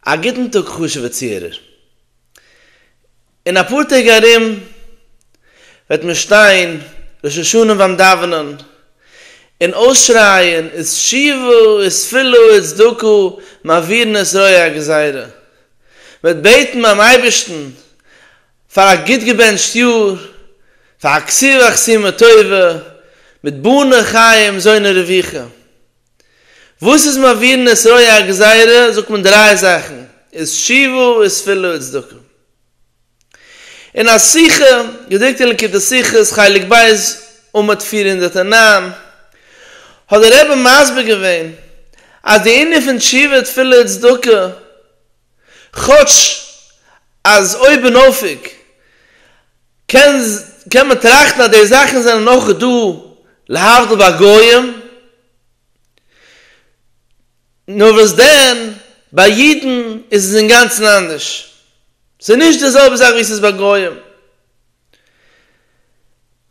א גוטן טאג חשוב'ע צוהערער. אין אפאר טעג ארום וועט מען שטיין ראש השנה ביים דאווענען און אויסשרייען עת שיבו עת פילו עת צדקו מעבירן את רוע הגזירה. מ'וועט בעטן ביים אייבערשטן פאר א גוט געבענטשט יאר, פאר א כסיווא כסימא טובה, מיט בני חיים זוני רווחה. וואס איז מעביר נשׂראי א גזירה זאגט מען דריי זאכן, איז תשובה איז תפילה איז צדקה. אין א שיחה געדרוקט אין ליקוטי שיחות חלק ב' עמוד פֿיר הונדערט און נײַן האט דער רבי מסביר געווען אז די ענין פון תשובה תפילה צדקה, כאטש אז אויבנאויף קען מען טראכטן אז די זאכן זענען אויך דא להבדיל ביי גויים, נאר וואס דען, ביי אידן איז עס אינגאנצן אנדערש, ס'איז נישט די זעלבע זאך ווי ס'איז ביי גויים.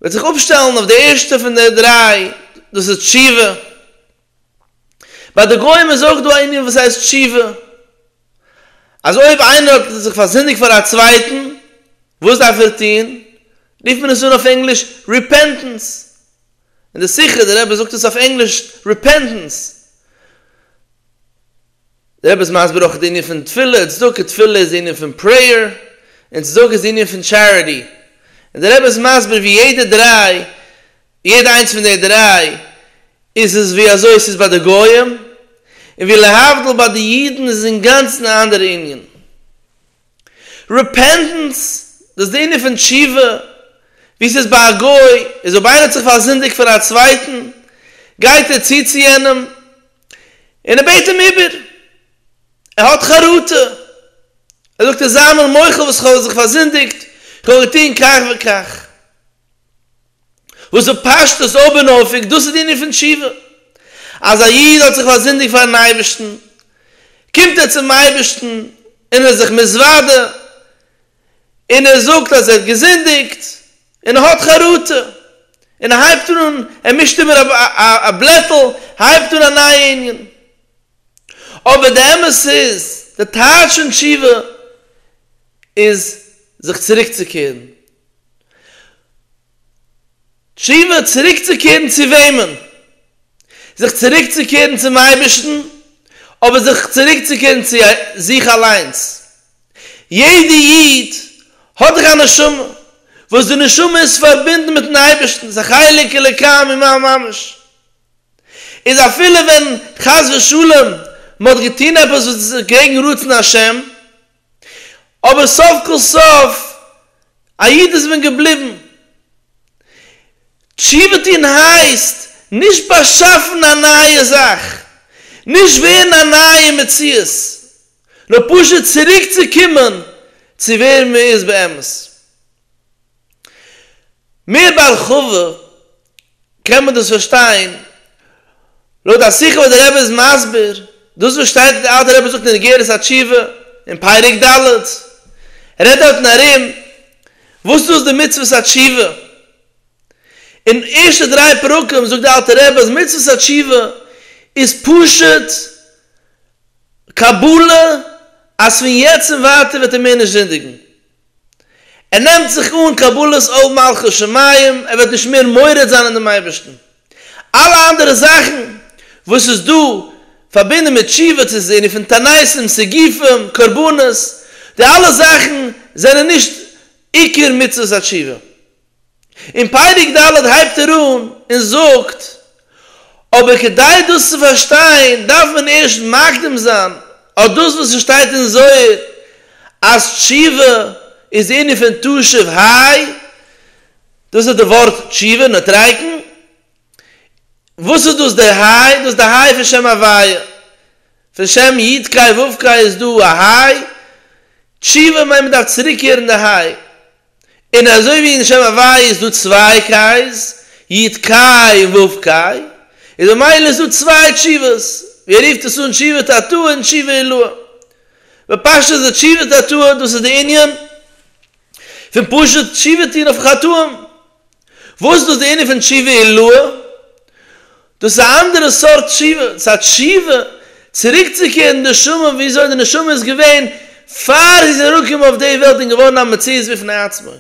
וועט זיך אפשטעלן אויף די ערשטע פון די דריי, דאס איז תשובה. ביי די גוים איז אויך דא א ענין וואס הייסט תשובה, אז אויב איינער האט זיך פארזינדיגט פאר א צווייטן, וואס דארף ער טון? רופט מען עס אן אויף ענגליש ריפענטענס, אין די שיחה דער רבי זאגט עס אויף ענגליש ריפענטענס, דער רבי איז מסביר אויך די ענין פון תפילה און צדקה, תפילה איז די ענין פון פרעיער, און צדקה איז די ענין פון טשעריטי, און דער רבי איז מסביר ווי יעדע דריי, יעדע איינס פון די דריי, איז עס ווי אזוי עס איז ביי די גויים, און ווי להבדיל ביי די אידן איז עס אינגאנצן א אנדערע ענין. רעפענטענס, דאס דעניע פון תשובה, ווי ס'איז ביי א גוי, איז אויב איינער האט זיך פארזינדיגט פאר א צווייטן, גייט ער צו צו יענעם, און ער בעט אים איבער, ער האט חרטה, ער זאגט אים, זיי מיר מוחל וואס כ'האב זיך פארזינדיגט, כ'האב געטון כך וכך. וואס איז פשט אז אויבנאויפיג דאס איז די ענין פון תשובה? אז א איד האט זיך פארזינדיגט פארן אייבערשטן, קומט ער צום אייבערשטן און ער איז זיך מתוודה, און ער זאגט אז ער האט געזינדיגט, און ער האט חרטה, און ער הייבט אן, ער מישט איבער א בלעטל, הייבט אן א נייע ענין. אבער די אמת איז, די טייטש פון תשובה איז זיך צוריקצוקערן, תשובה צוריקצוקערן צו וועמען? זיך צוריקצוקערן צום אייבערשטן, אבער זיך צוריקצוקערן צו זיך אליינס. יעדע איד האט דאך א נשמה, וואס די נשמה איז פארבינדן מיטן אייבערשטן, ס'איז א חלק אלוקי ממעל ממש. איז אפילו ווען חס ושלום מ'האט געטון עפעס וואס איז קעגן רצון השם, אבער סוף כל סוף א איד איז מען געבליבן. תשובה טון הייסט נישט באשאפן א נייע זאך, נישט ווערן א נייע מציאות, נאר פשוט צוריק צו קומען צו ווער מען איז באמת. מיר בהרחבה קען מען דאס פארשטיין לויט א שיחה וואס דער רבי איז מסביר דאס וואס שטייט אין די אלטע רבי זאגט אין אגרת התשובה אין פרק ד' ער רעדט דארטן ארום וואס דאס די מצוות התשובה אין ערשטע דריי פרקים זאגט די אלטע רבי אז מצוות התשובה איז פשוט קבלה אז פון יעצט און ווייטער וועט ער מער נישט זינדיגן ער נעמט זיך אן קבלת עול מלכות שמים, ער וועט נישט מער מורד זיין אין דעם אייבערשטן, אלע אנדערע זאכן וואס איז דא פארבינדן מיט תשובה צו זיי רופן תעניתים, סיגופים, קרבנות, די אלע זאכן זענען נישט עיקר מצוות התשובה. אין פרק ד' הייבט ער אן און זאגט, אבער כדי דאס צו פארשטיין דארף מען ערשט מקדים זיין אט דאס וואס עס שטייט אין זוהר אז תשובה איז ענין פון תשוב ה', דאס איז די ווארט תשובה, נטריקן, וואס איז דאס דער ה'? דאס איז די ה' פון שם הוויה, פון שם י ק ו ק איז דא א ה', תשובה מיינט מען דארף צוריקקערן די ה'. און אזוי ווי אין שם הווי' איז דא צוויי קיי'ס, יט קיי און וו קיי, איז במילא איז דא צוויי תשובות, ווי ער רופט עס אן תשובת התאה און תשובה עילאה. בפשטות איז די תשובת התאה דאס איז די ענין פון פשוט תשובה טון אויף חטאים, וואס איז דאס די ענין פון תשובה עילאה? דאס איז א אנדערע סארט תשובה, ס'איז א תשובה צוריקצוקערן די נשמה וויאזוי די נשמה איז געווען פאר זי איז אראפגעקומען אויף די וועלט און געווארן א מציאות בפני עצמו.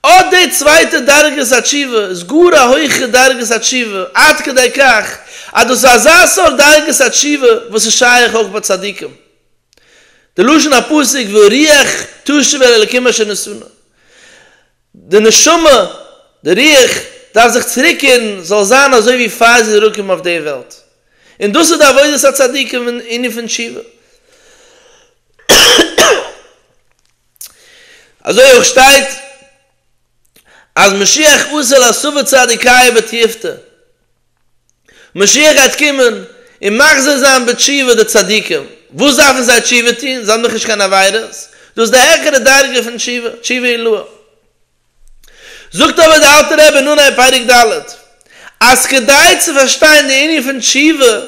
אט די צווייטע דרגת התשובה איז גאר א הויכע דרגת התשובה עד כדי כך אז דאס איז אזא סארט דרגת התשובה וואס איז שייך אויך ביי צדיקים, די לשון הפסוק והרוח תשוב אל אלקים אשר נשאנו, די נשמה, די רוח, דארף זיך צוריקקערן זאל זיין אזוי ווי פאר זי איז אראפגעקומען אויף די וועלט, און דאס איז די עבודת הצדיקים אין ענין פון תשובה. אזוי אויך שטייט אז משיח אסר על סבא צדיקיה בתיעבתא. משיח גייט קומען און מחזיר זיין בתשובה די צדיקים, וואס דארפן זיי תשובה טון, זיי האבן דאך נישט קיין עבירות, דאס איז די העכערע דרגה פון תשובה, תשובה עילאה. זאגט אבער דער אלטער רבי אין אנהייב פרק ד', אז כדי צו פארשטיין די ענין פון תשובה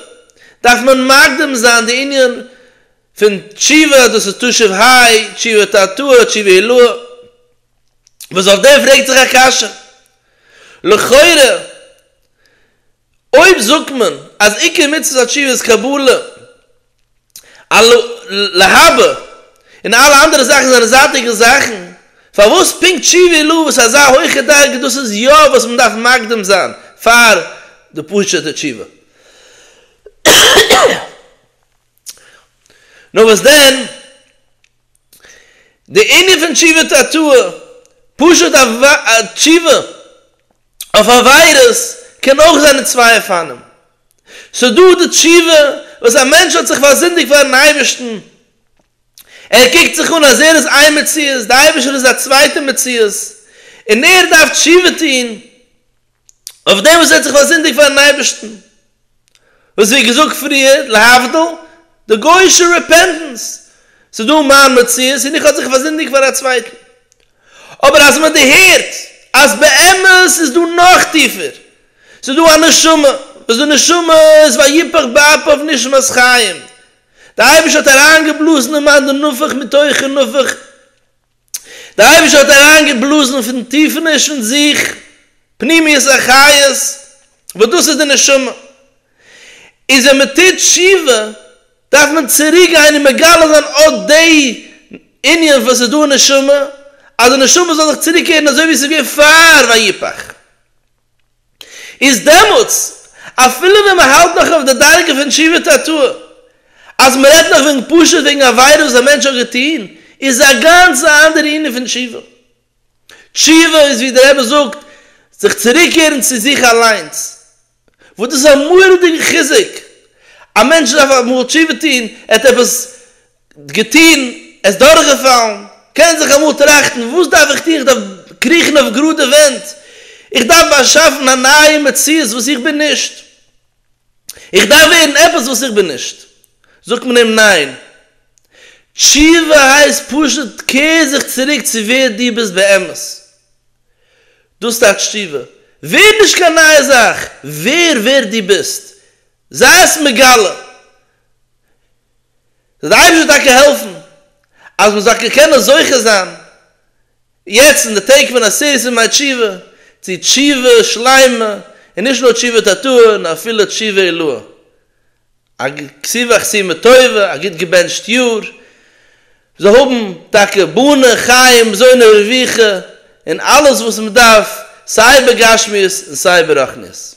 דארף מען מקדים זיין די ענין פון תשובה אז דאס איז תשוב ה', תשובה תרתוה, תשובה עילאה, וואס אויף דעם פרעגט זיך א קשיא, לכאורה אויב זאגט מען אז עיקר מצוות התשובה איז קבלה על לא להבא און אלע אנדערע זאכן זענען זייטיגע זאכן, פארוואס פונקט תשובה על לא וואס איז אזא הויכע דרגה דאס איז יא וואס מען דארף מקדים זיין פאר די פשוטע תשובה? נאר וואס דען? די ענין פון תשובה צו א תאוה, פשוט א תשובה אויף עבירות, קען אויך זיין אין צוויי אופנים. ס'איז דא די תשובה וואס א מענטש האט זיך פארזינדיגט פארן אייבערשטן, ער קוקט זיך אן אז ער איז איין מציאות, די אייבערשטער איז א צווייטע מציאות, און ער דארף תשובה טון, אויף דעם וואס ער האט זיך פארזינדיגט פארן אייבערשטן, וואס ווי געזאגט פריער, להבדיל, די גוי'אישע רעפענטענס, ס'איז דא מיין מציאות און איך האב זיך פארזינדיגט פאר א צווייטן, אבער אז מען דערהערט אז באמת איז דא נאך טיפער, ס'איז דא א נשמה, וואס די נשמה איז ויפח באפיו נשמת חיים, די אייבערשטער האט אריינגעבלאזן אין מיין די נפח מתוכו נפח, דער אייבערשטער האט אריינגעבלאזן פון טיפעניש פון זיך פנימיות החיות וואס דאס איז די נשמה, איז ווען מען טוט תשובה דארף מען צוריק גיין און מגלה זיין אט די ענין וואס איז דא אין נשמה, אז די נשמה זאל זיך צוריק קערן אזוי ווי עס איז געווען פאר ויפח. איז דעמאלטס, אפילו ווען מען האלט נאך אויף די דרגה פון תשובה תתאה, אז מען רעדט נאך וועגן פשוט וועגן עבירה וואס א מענטש האט געטון, איז א גאנץ א אנדערע ענין פון תשובה. תשובה איז ווי דער רבי זאגט, זיך צוריקקערן צו זיך אליינס, וואס דאס איז א מורא'דיגע חיזוק, א מענטש דארף אמאל תשובה טון, ער האט עפעס. געטון, עס דורכגעפאלן, קען זיך אמאל טראכטן, וואס דארף איך טון, איך דארף קריכן אויף גראדע ווענט, איך דארף באשאפן א נייע מציאות וואס איך בין נישט, איך דארף ווערן עפעס וואס איך בין נישט, זאגט מען אים ניין, תשובה הייסט פשוט קער זיך צוריק צו ווער דו ביסט באמת, דאס טייטשט תשובה, ווער נישט קיין נייע זאך, ווער ווער דו ביסט, זיי'ס מגלה. זאל די אייבערשטער טאקע העלפן אז מען זאל קענען זוכה זיין יעצט אין די טעג פון עשרת ימי תשובה צו תשובה שלימה און נישט נאר תשובה תתאה נאר אפילו תשובה עילאה א סיבוך סיום טובה א גוט געבענטשט יאר זאל האבן טאקע בנים חיים זונות רווחה און אלעס וואס מען דארף סיי בגשמיות און סיי ברחניות.